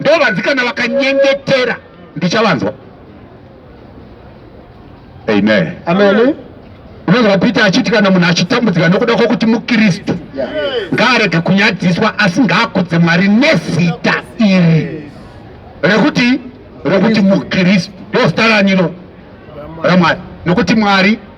ndovanzi kana vakanyengetera ndichavanzwa amen amen unonzwa peter achiti kana munhu achitambudzika nokuda kwokuti mukristu ngaarege kunyadziswa asi ngaakudze mwari nezita iri rekuti rekuti mukristu ndozita raniro ramwari nokuti mwari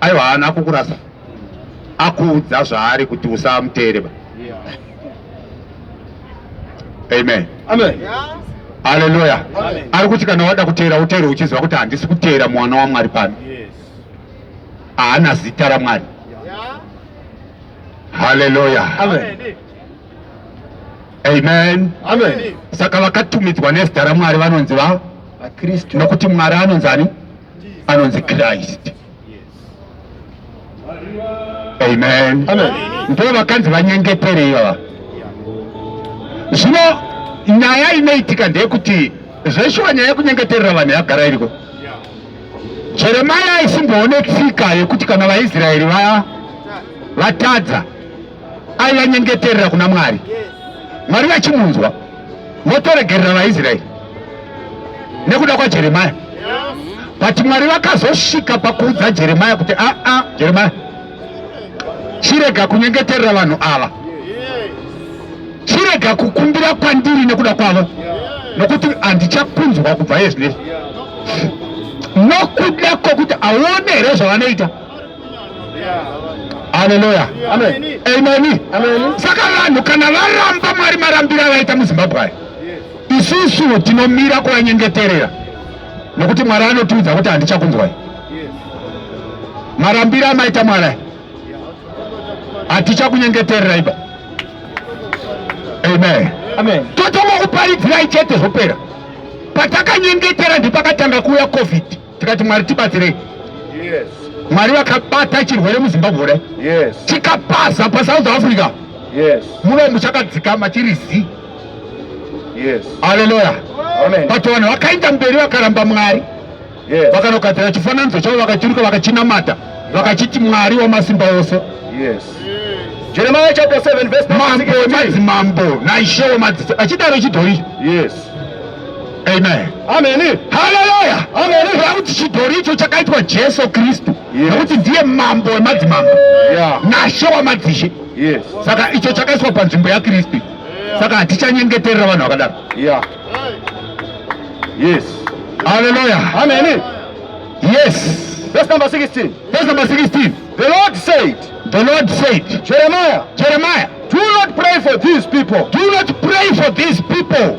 Aiwa haana akukurasa. Akuudza zvaari kuti usamuteere ba. Amen. Amen. Hallelujah. Amen. Ari kuti kana wada kuteera uteere uchiziva kuti handisi kuteera mwana waMwari pano. Yes. Haana zita raMwari. Yeah. Hallelujah. Amen. Amen. Amen. Amen. Saka vakatumidzwa nezita raMwari vanonzi va vakristu nokuti Mwari anonzi ani? anonzi Christ. Amen. Amen. Ndivo vakanzi vanyengetere ivava. Zvino nyaya inoitika ndeyekuti zveshuwa nyaya yekunyengeterera vanhu yagara iriko. Jeremia aisimboone tsika yekuti kana vaIsraeri vaya vatadza aivanyengeterera kuna mwari mwari vachimunzwa votoregerera vaisraeri nekuda kwajeremaya but mwari vakazosvika pakuudza jeremaya kuti aa ah, ah, jeremaya chirega kunyengeterera vanhu ava chirega kukumbira kwandiri nekuda kwavo nokuti handichakunzwa kubva yezvinezvi nokuda kwokuti aone here zvavanoita Haleluya. Amen. Amen. Amen. Saka vanhu kana varamba Mwari marambira vaita muZimbabwe aya. Isusu tinomira kuvanyengeterera. Nokuti Mwari anotiudza kuti handichakunzwai. Marambira amaita Mwari. Hatichakunyengetererai ba. Amen. Amen. Totongo kuparidzirai chete zvopera. Patakanyengetera ndipakatanga kuuya COVID. tikati mwari tibatsirei mwari vakabata chirwere muzimbabwe kudai chikapaza pasouth africa muve muchakadzikama chiri zi aleluya but vanhu vakaenda mberi vakaramba mwari vakanogadzira chifananidzo chavo vakachiruka vakachinamata vakachiti mwari wamasimba ose jeremiya chapter 7 verse mambo madzimambo naishewo madzisa achidaro chidhori yes Amen. Amen. Hallelujah. Amen. Kuti chidhori icho chakaitwa Jesu Kristu. Yes. Kuti ndiye mambo wemadzimambo. Yeah. Nashe wamadzishe. Yes. Saka icho chakaiswa panzvimbo yaKristu. Yeah. Saka hatichanyengeterera vanhu vakadaro. Yeah. Yes. Hallelujah. Amen. Yes. Verse number 16. Verse number 16. The Lord said. The Lord said. Jeremiah. Jeremiah. Do not pray for these people. Do not pray for these people.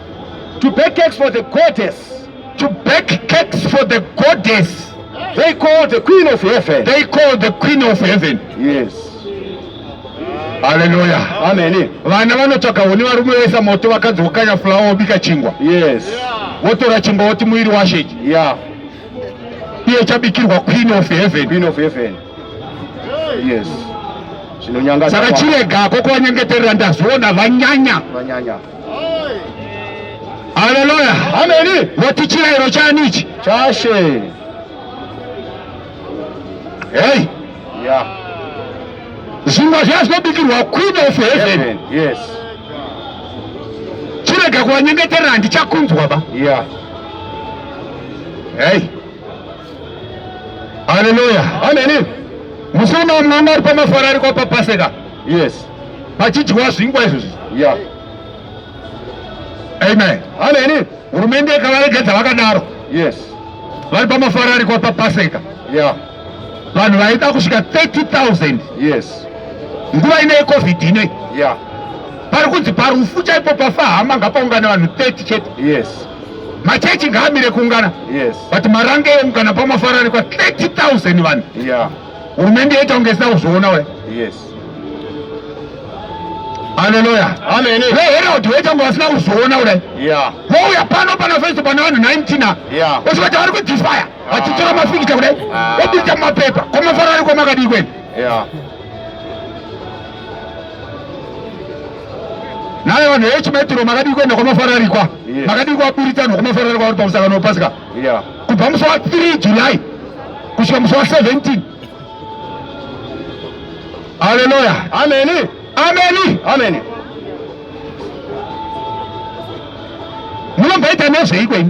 To bake cakes for the goddess. To bake cakes for the goddess. They call the queen of heaven. They call the queen of heaven. Yes. Hallelujah. Amen. Vana vanotsvaka huni varume vesa moto vakadzi vokanya fulawa wobika chingwa. Yes. Votora chingwa woti muiri washe. Yeah. Iye chabikirwa queen of heaven. Queen of heaven. Yes. Zvinonyanga. Saka chirega ko kuvanyengeterera ndazviona vanyanya. Vanyanya. Haleluya. Ameni. Voti chirairo chani ichi? Chashe. Hey. Yeah. Zvingwa zvazobikirwa queen of heaven. Yes. Chirega kuwanyengeterera handichakunzwa ba. Yeah. Hey. Haleluya. Amen. Musana mwana ari pamafara ari kwa papaseka. Yes. Pachidyiwa zvingwa izvozvi. Yeah. Amen. Amen. Hurumende ikavaregedza vakadaro. Yes. Vari pamafara ari kwa papaseka. Yeah. Vanhu vaida kusvika 30,000. Yes. Nguva ine covid ine. Yeah. pari kunzi parufu chaipo pafa hama ngapaungana vanhu 30 chete yes machechi ngaamire kuungana yes but marange eungana pamafaranikwa 30000 vanhu yeah hurumende yaita kunge isina kuzviona we yes haleluya amene veherald waita kunge vasina kuzviona urai yeah wouya pano pana festo pana vanhu 19 yeah osvika vari kudisfaya ah. vachitora mafikita kudai ah. obuita mumapepa kwamafararikwa makadii kwenu yeah naye vanhu vechimetro makadii kuenda kwamafararikwa makadii kwaburitanwa kwamafararikwa vari pamusangano wepasika kubva musi wa 3 july kusvika musi wa 17 haleluya ameni ameni ameni munombaita nezveiko ini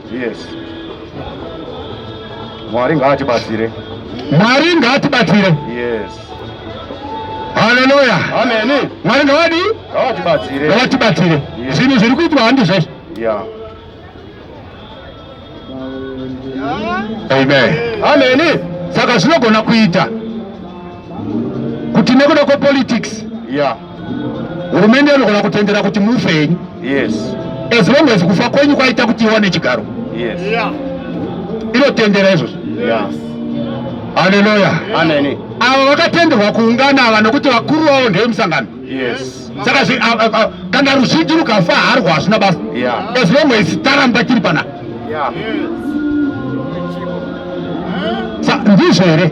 Yes. Mwari ngaatibatsire. Mwari ngaatibatsire. Yes. Haleluya. Amen. Mwari ngawadi? Ngawatibatsire. Ngawatibatsire. Zvinhu zviri kuitwa handi zvazvo. Yeah. Amen. Amen. Saka zvinogona kuita kuti nekuda kwepolitics. Yeah. hurumende inogona kutendera kuti mufe henyu yes. as long as kufa kwenyu kwaita kuti iwane chigaro yes. yeah. inotendera izvozvo yes. haleluya yeah. avo vakatenderwa kuungana ava nokuti vakuru vavo ndeve musangano yes. saka kana ruzhinji rukafa harwa hazvina basa yeah. as long as taramba tiri panapa yeah. yes. ndizvo here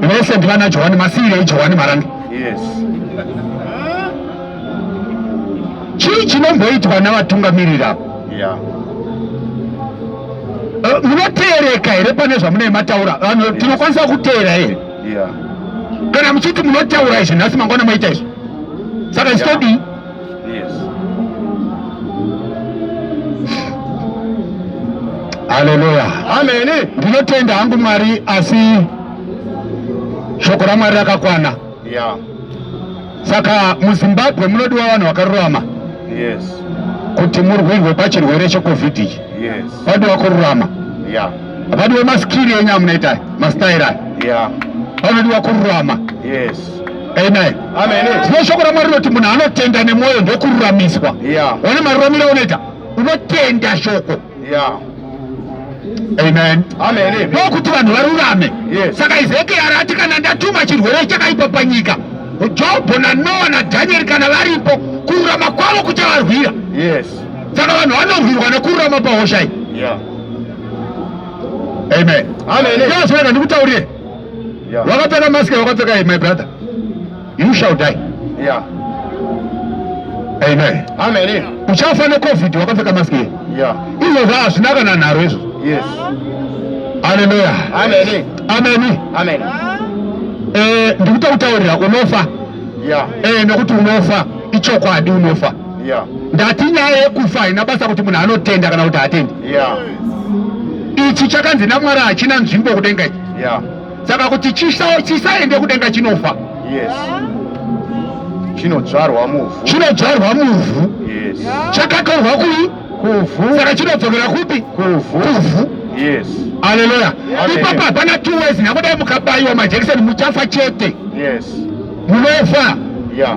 mese ndivana johani masiirei johani marange yes. chii chinomboitwa navatungamiriri avo yeah. Eh, munoteereka here pane zvamunei mataura vanhu tinokwanisa kuteera here kana muchiti munotaura izvi nhasi mangwana maita izvi saka istodii Yes. Haleluya. Amen. Ndinotenda hangu Mwari asi shoko raMwari rakakwana. Yeah. Saka muZimbabwe munodiwa vanhu vakarurama. Yes. Kuti murwirwe pachirwere cheCovid ichi. Yes. Vadiwa kururama. Yeah. Vadiwa maskiri enyu amunoita, mastaira. Yeah. Vanodiwa kururama. Yes. Amen. Amen. Tine shoko raMwari rinoti munhu anotenda nemwoyo ndokururamiswa. Yeah. One maruramiro unoita unotenda shoko. Yeah. Amen. Amen. Ndokuti vanhu varurame. Yes. Saka Ezekiel ati kana ndatuma chirwere chakaipa panyika Jobho naNoa naDhanieri kana varipo kururama kwavo kuchavarwira. Yes. Saka vanhu vanorwirwa nekururama pahosha iyi. Yeah. Amen. Amen. Ndozvoenda ndikutaurire. wakapfeka mask wakapfeka hii my brother you shall die yeah amen amen uchafa ne covid wakapfeka mask hii yeah izvo zva hazvina kana nharo izvo yes haleluya amen amen amen eh ndikuta kutaurira unofa yeah eh nekuti unofa ichokwadi unofa yeah. ndati nyaya yekufa haina basa kuti munhu anotenda kana kuti haatendi yeah. ichi chakanzi namwari hachina nzvimbo kudenga ichi yeah. saka kuti chisaende kudenga chinofa yes. chinodzvarwa muvhu chinodzvarwa muvhu yes. chakatorwa kui kuvhu saka chinodzokera kupi kuvhu kuvhu yes. aleluya ipapa hapana two ways nakuda mukabaiwa majekiseni muchafa chete yes. munofa yeah.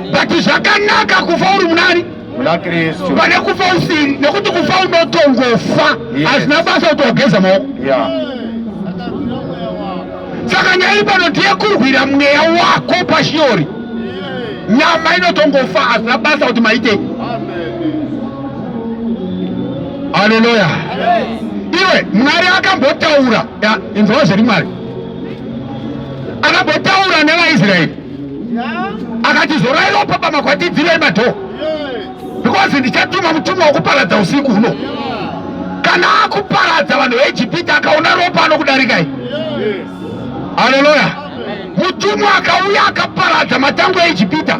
but zvakanaka kufa uri munani pane kufa usiri nekuti kufa unotongofa hazvina basa kuti wageza maoko saka nyaya iri pano tiyekurwira mweya wako pashiori nyama inotongofa hazvina basa kuti maitei haleluya iwe mwari akambotaura inzwa zviri mwari akambotaura nevaisraeri akati zorai ropa pamakwatidzirei madhoo because ndichatuma mutumwa wekuparadza usiku huno kana akuparadza vanhu veijipiti akaona ropa anokudarikai haleluya mutumwa akauya akaparadza matango eijipita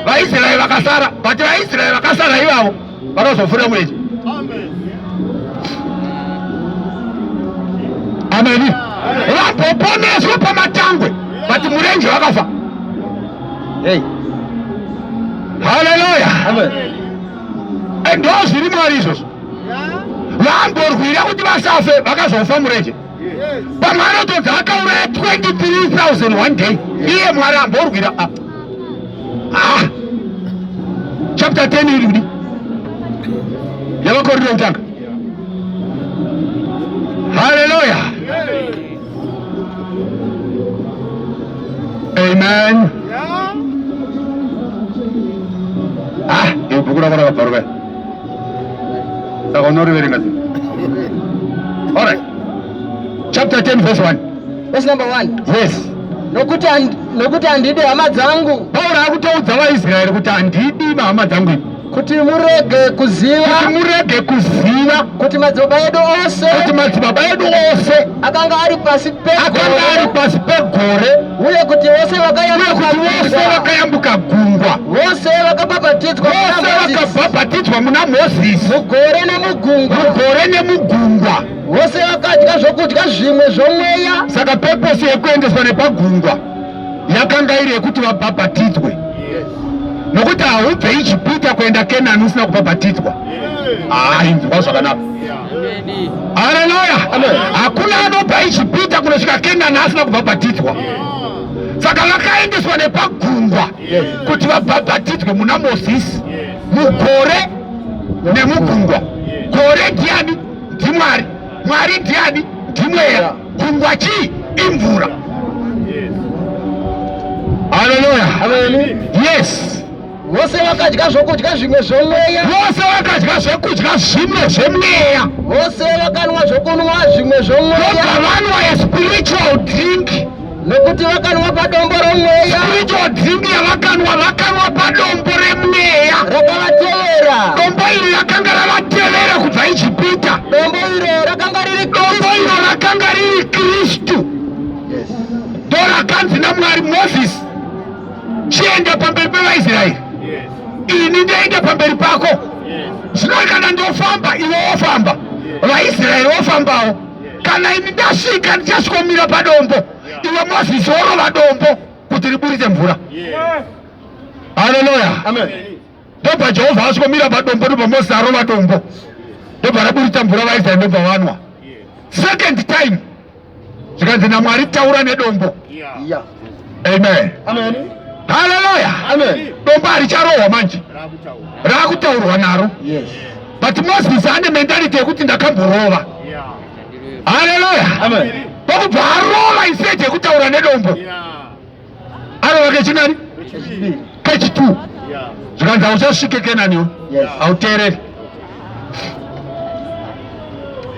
vaisraeri vakasara but vaisraeri vakasara ivavo vakazofura mweche ameni vapoponeswa pamatangwe vati murenje vakafa hey. haleluya ndo zviri mwari izvozvo vamborwira kuti vasafe vakazofa murenje pamwe anotodzi akauraya 23000 one day iye mwari amborwira ah. ah. chapter 10 iri kudi yavakoriro kutanga haleluya amen ah ibhuku rakona kabvaruka saka unoriverenga sei all right chapter 10 verse 1 verse number 1 yes nokuti nokuti handidi hama dzangu pauro akutoudza vaisraeri kuti handidi vahama dzangu ivi kuti murege kuziva kuti murege kuziva kuti madzibaba edu ose kuti madzibaba edu ose akanga ari pasi pegore akanga ari pasi pegore uye kuti vose vakayambuka gungwa vose vakabhabhatidzwa vakabhabhatidzwa muna mozisi mugore nemugungwa mugore nemugungwa vose vakadya zvokudya zvimwe zvomweya saka peposi yekuendeswa nepagungwa yakanga iri yekuti vabhabhatidzwe nokuti haubve ijipita kuenda kenani usina kubhabhatidzwa hainzwa zvakanaka Haleluya! Hakuna anopa Ijipita kunosvika Kenani asina kubhabhatidzwa. Saka vakaendeswa nepagungwa kuti vabhabhatidzwe muna Mozisi, mugore nemugungwa. Gore ndiani? NdiMwari. Mwari ndiani? NdiMweya. Gungwa chii? Imvura. Haleluya! Yes. Vose vakadya zvokudya zvimwe zvomweya. Vose vakadya zvokudya zvimwe zvomweya. Vose vakanwa zvokunwa zvimwe zvomweya. Vakavanwa a spiritual drink. Nokuti vakanwa padombo romweya. Spiritual drink yavakanwa vakanwa padombo remweya. Rakavatevera. Dombo iri rakanga ravatevera kubva Ijipita. Dombo iro rakanga riri Dombo iro rakanga riri Kristu. Yes. Ndorakanzi naMwari Moses. chienda pamberi pevaisraeri ini ndoenda pamberi pako zvino kana ndofamba iwe wofamba vaisraeri wofambawo kana ini ndasvika ndichasvikomira padombo iwe mozisi worova dombo kuti riburitse mvura haleluya ndobva jehovha asvikomira padombo ndobva mozisi arova dombo ndobva raburitsa mvura vaisraeri ndobva vanwa second time zvikanzi namwari taura nedombo amen haleluya dombo haricharohwa manje raakutaurwa naro but moses ane mentality yekuti ndakamborova haleluya pakubva arova iseje yekutaura nedombo anova kechinani kechitu zvikanzi hauchasvike kenaniwo hauteereri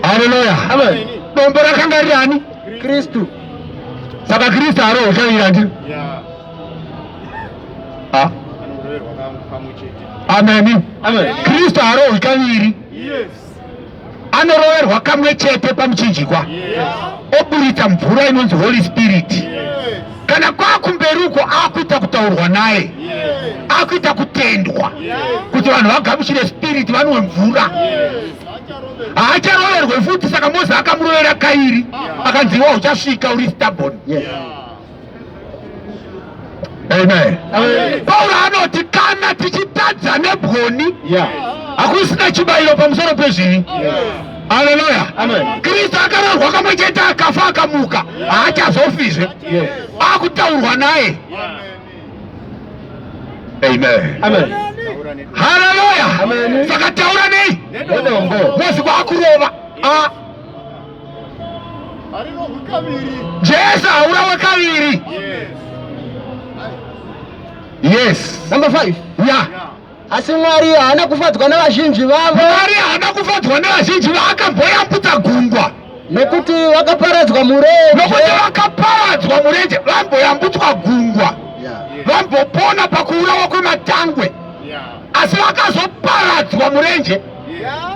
haleluya dombo rakanga riri ani kristu saka kristu haroho chaira ndiri ameni kristu haroho ikaviri yes. anoroverwa kamwe chete pamuchinjikwa oburitsa mvura inonzi holy spirit kana kwakumberi uko akuita kutaurwa naye akuita kutendwa kuti vanhu vagamuchire spirit vanwe mvura haacharoverwe futi saka mozi akamurovera kairi akanziwa uchasvika uri stabon Amen. Amen. Paulo anoti kana tichitadza nebwoni yeah. hakusina chibayiro pamusoro pezvivi yeah. Haleluya. Amen. Kristu akararwa kamwe chete akafa akamuka haachazofizve akutaurwa naye. Amen. Amen. Haleluya. Saka taura nei? Mosi kwakurova. Ah. Jesu haurawe kaviri. Yes. Number five. Yeah. Asi Mwari haana kufadzwa nevazhinji vavo. Mwari haana kufadzwa nevazhinji vaakavoyambutsa gungwa. Nekuti vakaparadzwa murenje. Nekuti vakaparadzwa murenje vamboyambutswa gungwa. Vambopona pakuurawa kwematangwe. Asi vakazoparadzwa murenje. Yeah.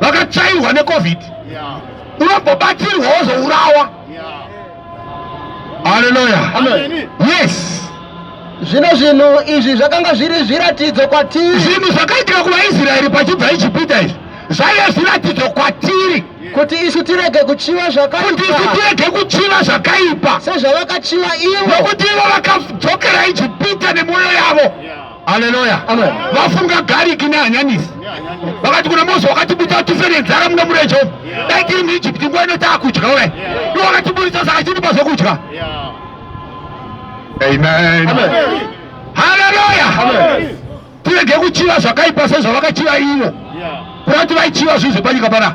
vakatsvairwa necovid unombobatsirwa wozourawa haleluya yes zvino zvinhu izvi zvakanga zviri zviratidzo kwatiri zvinhu zvakaitika kuvaisraeri pachibva ijipita izvi zvaive zviratidzo kwatiri kuti isu tirege kuchiva zvakaikuti isu tirege kuchiva zvakaipa sezvavakachiva ivo nokuti ivo vakadzokera ijipita nemwoyo yavo yeah. Haleluya. Vafunga garlic nehanyanisi. Vakati kuna Mose wakatibudisa tife nenzara muna mure Jehovha. Dai tiri muIjipiti nguva ino taakudya we. Iwe wakatibudisa saka chitipa zvokudya. Amen. Haleluya. Tirege kuchiva zvakaipa sezvavakachiva ivo. Kurati vaichiva zvinhu zvepanyika pana.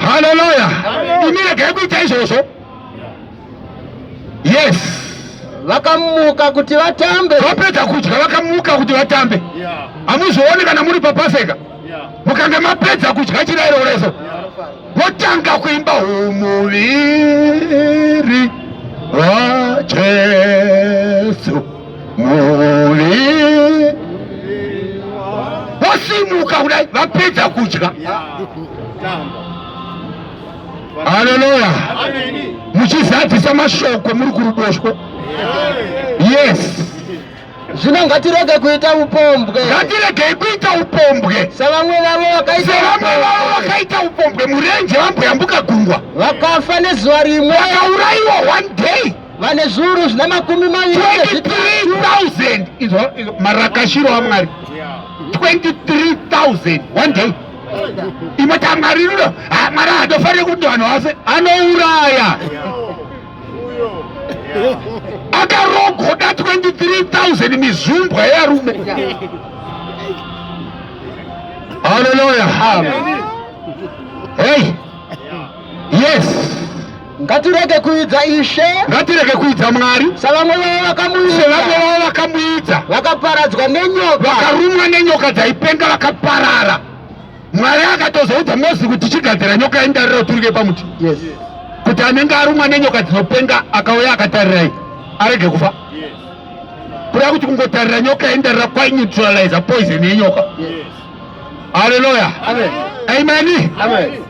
haleluya imi regai kuita izvozvo yes vakamuka kuti vatambe vapedza kudya vakamuka kuti vatambe hamuzooni kana muri papaseka mukange mapedza kudya chirairo reso votanga kuimba umuviri wajesu muviri vosimuka kudai vapedza kudya haleluya muchizadzisa mashoko muri kuruboshwe yes zvino ngatirege kuita upombwe ngatiregei kuita upombwe sevamwe vavo vakaisevamwe vavo vakaita upombwe murenje vamboyambuka gungwa vakafa nezuva rimwe vakaurayiwa one day vane zviuru zvina makumi maviri 23,000 izvo marakashiro amwari 23,000 one day imwe tamwari rudo mwari hadofanire kuti vanhu vase anouraya akarogoda 23,000 mizumbwa yearume haleluya hei yes Ngatirege kuidza Ishe. Ngatirege kuidza Mwari. Savamwe vavo vakamuidza. Sevamwe vavo vakamuidza. Vakaparadzwa nenyoka. Vakarumwa nenyoka dzaipenga vakaparara. Mwari akatozoudza Mozisi kuti chigadzira nyoka yendarira uturike pamuti. Yes. Kuti anenge arumwa nenyoka dzinopenga akauya akatarirai arege kufa. Yes. Kuda kuti kungotarira nyoka yendarira kwai neutralizer poison yenyoka. Yes. Hallelujah. Amen. Amen. Amen.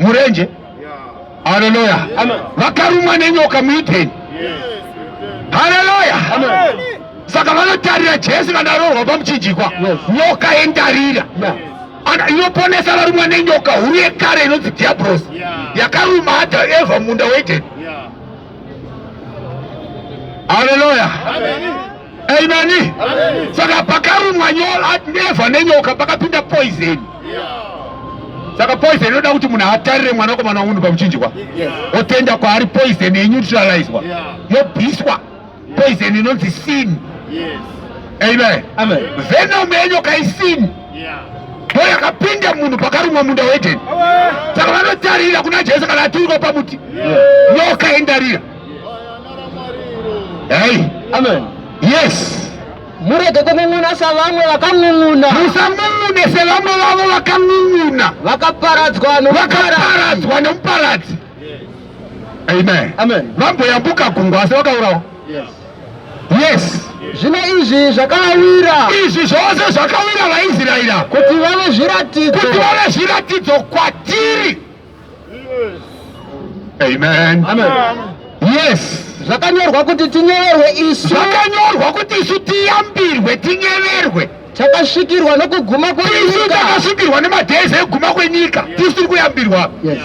murenje haleluya vakarumwa nenyoka muidheni haleluya saka vanotarira jesu vanarohwa pamuchinjikwa nyoka yendarira inoponesa varumwa nenyoka huru yekare inonzi dhiabrosi yakaruma adha eva munda weidheni haleluya Ameni. Saka pakarumwa neva nenyoka pakapinda poison. Saka poison inoda kuti munhu atarire mwana komana wunhu pamuchinjwa. Otenda kwaari poison ye neutralizwa. Yobiswa. Poison inonzi sin. Amen. Amen. Venom yenyoka i sin. Ndo yakapinda munhu pakarumwa munda weEden. Saka vanotarira kuna Jesu kana aturikwa pamuti. Nyoka indarira. Hey. Amen. Yes. murege kun'un'una savamwe vakan'un'una musan'un'une sevamwe vavo vakan'un'una vakaparadzwa vakaparadzwa nemuparadzi amen vamboyambuka gungwa asi vakaurawa yes zvino izvi zvakawira izvi zvose zvakawira vaisraeri kuti vave zviratidzo kuti vave zviratidzo kwatiri Amen. Amen. Yes. Zvakanyorwa kuti tinyeverwe isu. Zvakanyorwa kuti isu tiyambirwe tinyeverwe. Takasvikirwa nokuguma kwenyika. Isu takasvikirwa nemadhezi ekuguma kwenyika. Tisu tiri kuyambirwa. Yes.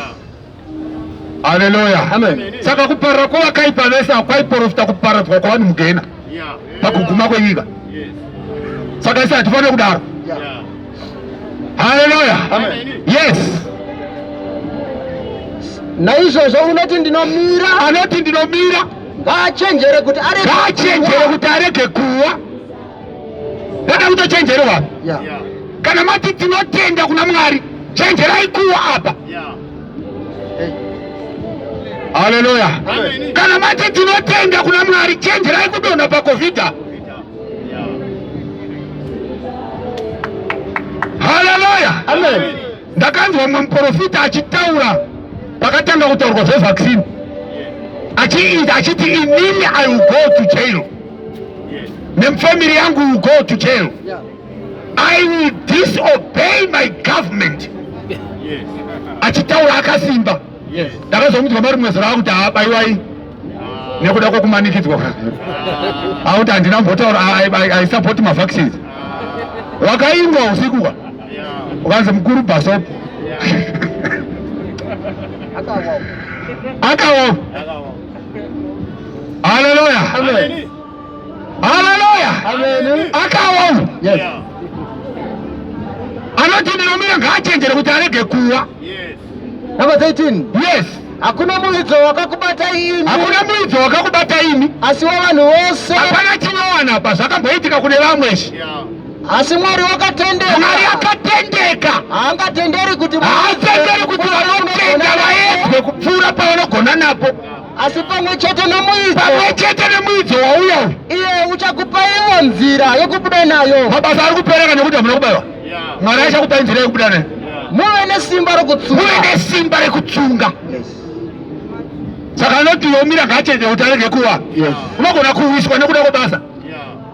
Hallelujah. Amen. Saka kuparira kwavakaipa vese hakwaiporofita kuparadzwa kwavanhu mugena. pakuguma kwenyika saka isi hatifanire kudaro haleluya yes naizvozvo unoti ndinomira anoti ndinomira ngaachenjere kuti ngaachenjere kuti arege kuwa ndada kutochenjerewa kana mati tinotenda kuna mwari chenjerai kuwa apa yeah. Haleluya! Kana mati tinotenda kuna Mwari, chenjerai kudonha pakofita. Haleluya! Ndakanzwa umwe muprofita achitaura pakatanga kutaurwa zvevaccine achiita achiti inini i will go to jail nemfamily yangu will go to jail yeah. I will disobey my government achitaura akasimba ndakazomudzwa mari mumwe zera akuti haabaiwai nekuda kwokumanikidzwa akuti handina mbotaura i support mavaccines wakaingwa usiku ka ukanzi mukuru bhasopo akawa haleluya Haleluya. Akawa uyu. Yes. Anoti ndinomira ngaachenjere kuti arege kuwa. Yes. Number 13. Yes. Hakuna muidzo wakakubata imi. Hakuna muidzo wakakubata imi. Asi wavanhu vose. Hapana chinowana apa zvakamboitika kune vamwe izvi. Yeah. Asi Mwari wakatendeka. Mwari akatendeka. Haangatenderi kuti haatenderi kuti vanotenda vaedzwe kupfuura pavanogona napo. asi pamwe chete nomuidzo pamwe chete nemuidzo wauya iye uchakupa iwo nzira yokubuda nayo mabasa ari kupereka nekuti hamuna kubayiwa mwari achakupai nzira yokubuda nayo muve nesimba rekutsunga muve nesimba rekutsunga saka anoti yomira ngachete kuti arege kuwa unogona kuwiswa nekuda kwebasa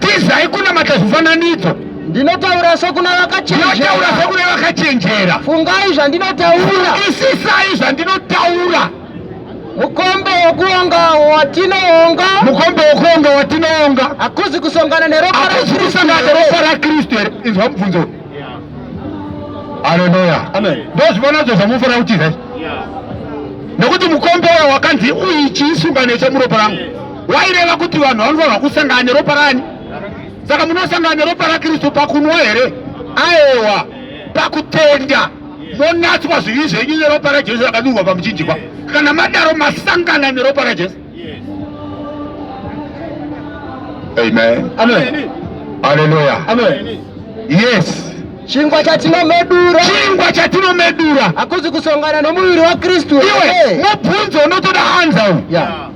tizai kunamata zvifananidzo ndinotaura sokuna vakachenjera sokuna vakachenjera fungai zvandinotaura isisai zvandinotaura mukombe wokuonga watinoonga mukombe wokuonga watinoonga hakuzi kusongana neropa hakuzi kusongana neropa rakristu here inzwa mubvunzo haleluya ndozvivanadzo zvamufanira kutiza nekuti mukombe wayo wakanzi uichiisungano yechamuropa rangu waireva kuti vanhu vanofanirwa kusangana neropa rani saka munosangana neropa rakristu pakunwa here aewa pakutenda monatswa zvivi zvenyu neropa rajesu rakadurwa pamuchinjikwa kana madaro masangana neropa rajesu amen amen aleluya amen yes chingwa chatinomedura chingwa chatinomedura hakuzi kusongana nomuviri wakristu iwe mubvunzo unotoda anza uyu yeah.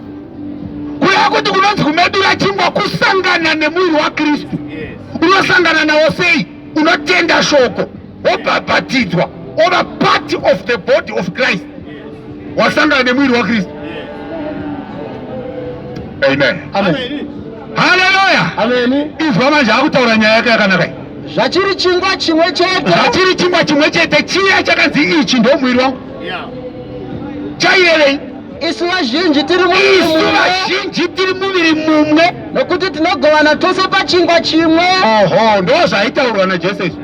Kureva kuti kunonzi kumedura chingwa kusangana nemuviri waKristu. Unosangana nawo sei? Unotenda shoko, wobhabhatidzwa, ova part of the body of Christ. Wasangana nemuviri waKristu. Amen. Amen. Hallelujah. Amen. Izwa manje akutaura nyaya yake yakanaka iyi. zvachiri chingwa chimwe chete zvachiri chingwa chimwe chete chiya chakanzi ichi ndomwiri wangu Yeah. chaiyereyi isu vazhinji tiri isu vazhinji tiri muviri mumwe nokuti tinogovana tose pachingwa chimwe oho ndo zvaitaurwa najesu izvi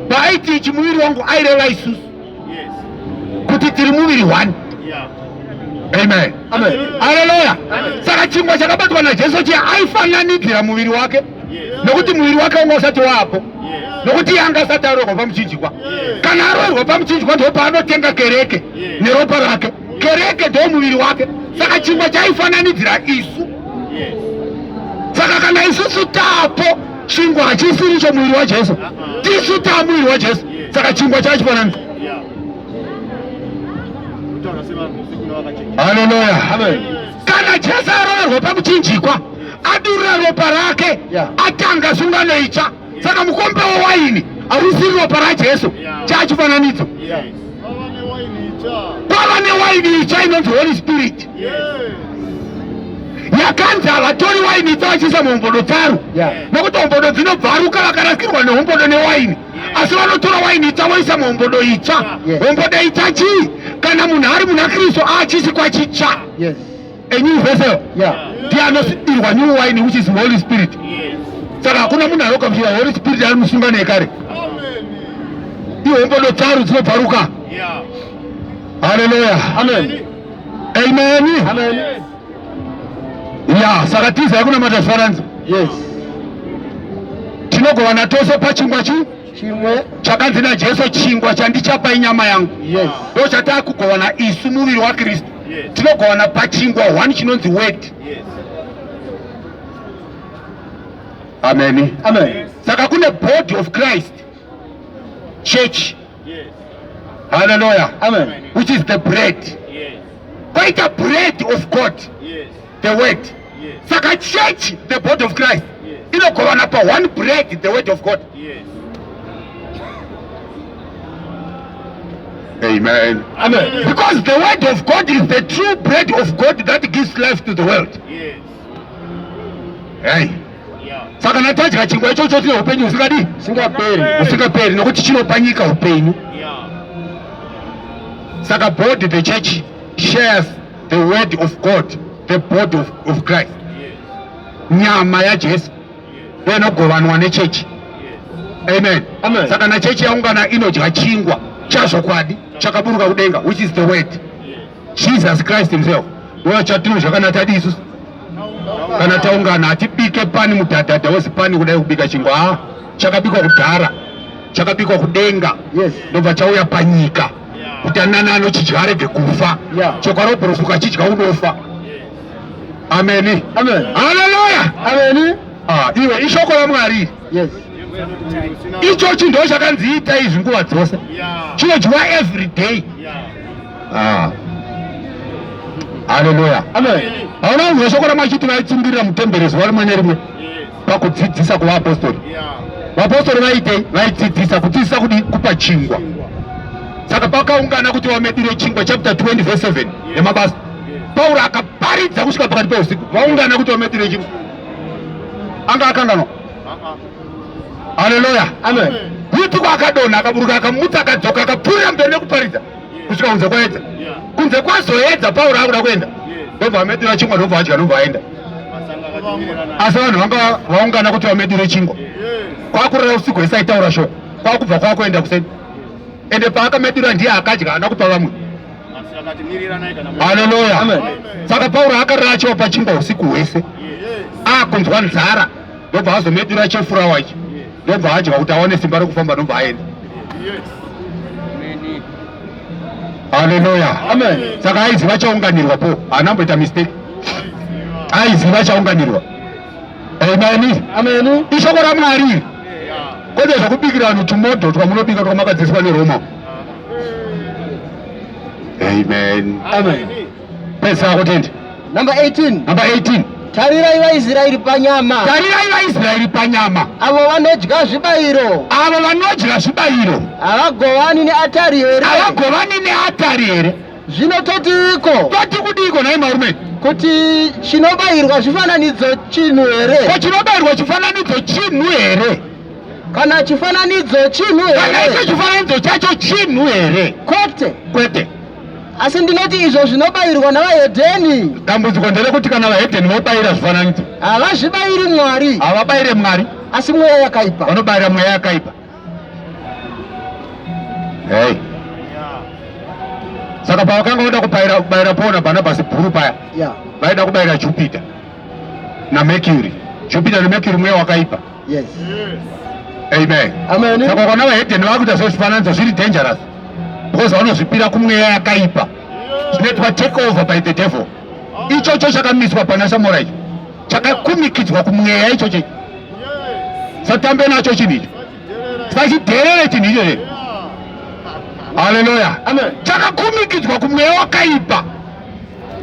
paaiti ichi muviri wangu aireva isusu kuti tiri muviri one amen aleluya saka chingwa chakabatwa najesu chiya aifananidzira muviri wake nokuti muviri wake wanga usati waapo nokuti yanga asati arohwa pamuchinjikwa kana arohwa pamuchinjikwa ndo paanotenga kereke neropa rake kereke ndo muviri wake saka chingwa chaifananidzira isu saka kana isusu tapo chingwa hachisiri cho muviri wajesu uh-uh. tisu taa muviri wajesu saka chingwa chachifananidzira haleluya kana jesu aroverwa pamuchinjikwa adurira ropa rake yeah. atanga sungano itsva saka mukombe wewaini hausi ropa rajesu yeah. chaachifananidzo yeah. kwava newaini itsva inonzi holy spirit yeah. yakanzi havatori waini itsva vachiisa muhombodo dzaro yeah. nokuti hombodo dzinobvaruka vakarasikirwa nehombodo newaini yeah. asi vanotora waini itsva voisa muhombodo itsva yeah. hombodo itsva chii kana munhu ari muna kristu aachisi kwachitsva yes. a new vessel yeah. ndiye anosidirwa new wine which is holy spirit yes. saka hakuna munhu anokamfira holy spirit ari musunga nekare ihombodo tsaru dzinobvaruka yeah. haleluya amen amen, amen. Yes. ya saka tiza yakunamata zvifananidzo yes tinogovana tose pachingwa chii chimwe chakanzi najesu chingwa chandichapa inyama yangu yes. ndo chataa kugovana isu muviri wakristu yes. tinogovana pachingwa one chinonzi word yes. ameni Amen. saka kune body of christ church yes. haleluya which is the bread yes. kwaita bread of god yes. the word saka church the body of christ inogovana pa one bread the word of god Amen. Amen. Because the word of God is the true bread of God that gives life to the world. Yes. Hey. saka natadya chingwa ichocho tine upenyu usikadi usingaperi usingaperi nokuti chinopa nyika upenyu saka body the church shares the word of god the body of, of christ nyama yajesu ndoinogovanwa nechechi amen saka nachechi yaungana inodya chingwa chazvokwadi chakaburuka kudenga which is the word jesus christ himself ndiwo chatino zvakanatadi isusu kana taungana hatibike pani mudhadhadha wese pani kudai kubika chingwa a ah, chakabikwa kudhara chakabikwa kudenga ndobva chauya panyika kuti anani anochidya arege kufa chokwadi wobhurufu ukachidya unofa ameni haleluya ameni ah, iwe ishoko ramwari yes icho chinhu ndo chakanzi ita izvi nguva dzose chinodyiwa every day ah. haleluya hauna kuzwa shoko ramwari chiti vaitsungirira mutembere zuva rimwe nerimwe pakudzidzisa kuvaapostori vapostori vaitei vaidzidzisa kudzidzisa kudi kupa chingwa saka pakaungana kuti vamedire chingwa chapter 20 vese 7 yemabasa pauro akaparidza kusvika pakati peusiku vaungana kuti vamedire chingwa anga akanganwa haleluya yutuko akadonha akaburuka akamutsa akadzoka akapfuurira mberi nekuparidza kusvika kunze kwaedza kunze kwazoedza pauro akuda kuenda ndobva amedura chingwa ndobva adya ndobva aenda asi vanhu vanga vaungana kuti vamedure chingwa kwakurara usiku hese aitaura shoko kwakubva kwakuenda kuseni ende paakamedura ndiye akadya haana kupa vamwe haleluya saka pauro akarara achiva pachingwa usiku hwese akunzwa nzara ndobva azomedura chefurawa ichi ndobva adya kuti awane simba rokufamba ndobva aenda haleluya saka aiziva chaunganirwa po haana amboita mistake aiziva chaunganirwa ameni ameni ishoko ramwari kwete zvakubikira vanhu tumoto twamunobika twamakadziswa neroma amen amen Pesa wako tende. Number 18. Number 18. Tarirai vaIsraeri panyama. Tarirai vaIsraeri panyama. Avo vanodya zvibayiro. Avo vanodya zvibayiro. Havagovani neatari here? Havagovani neatari here? Zvino totiiko? Toti kudiiko nhai marume? Kuti chinobayirwa chifananidzo chinhu here? Ko chinobayirwa chifananidzo chinhu here? Kana chifananidzo chinhu here? Kana icho chifananidzo chacho chinhu here? Kwete. Kwete. asi ndinoti izvo zvinobayirwa navahedheni dambudziko nderekuti kana vahedheni vobayira zvifananidzo havazvibayiri mwari havabayire mwari asi mweya yakaipa vanobayira mweya yakaipa hey. saka pavakanga voda kubayira paul nabarnabasi bhuru paya vaida yeah. kubayira jupiter namercury jupiter namercury mweya wakaipa Yes. Amen. Amen. Saka ukaona vahedheni vakuita zvezvifananidzo zviri dangerous because vanozvipira kumweya yakaipa zvinoitwa take over by the devil. Ichocho chakamiswa pana Samora icho chakakumikidzwa kumweya ichocho satambe nacho chinhu icho sachidherere chinhu ichocho haleluya chakakumikidzwa kumweya wakaipa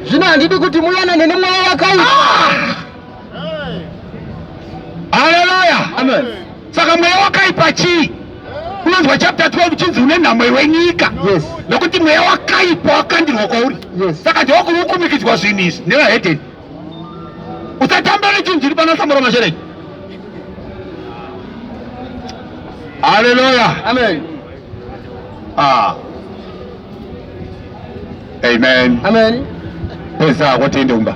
zvino handidi kuti muyanane nemweya wakaipa ah! Haleluya. Amen. Saka mweya wakaipa chii? Unonzwa chapter 12 chinzi une nhamo iwe nyika. Yes. Nokuti mweya wakaipa wakandirwa kwauri. Yes. Saka ndiwo kukumikidzwa zvinhu izvi nevahedeni. Usatamba nechinhu chiri pana samora mashereki. Haleluya. Amen. Ah. Amen. Amen. Pesa kwatende umba.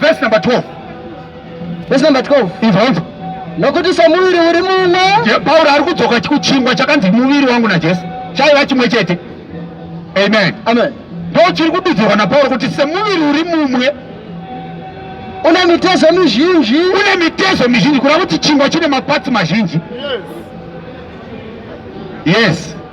Verse number 12. Verse number 12. Ibva ibva. Nokuti somuviri uri mumwe. Pauro ari kudzoka kuchingwa chakanzi muviri wangu naJesu chaiva chimwe chete. Amen. Amen. Ndo chiri kududzirwa naPauro kuti semuviri uri mumwe une mitezo mizhinji une mitezo mizhinji kureva kuti chingwa chine mapatsi mazhinji yes, yes.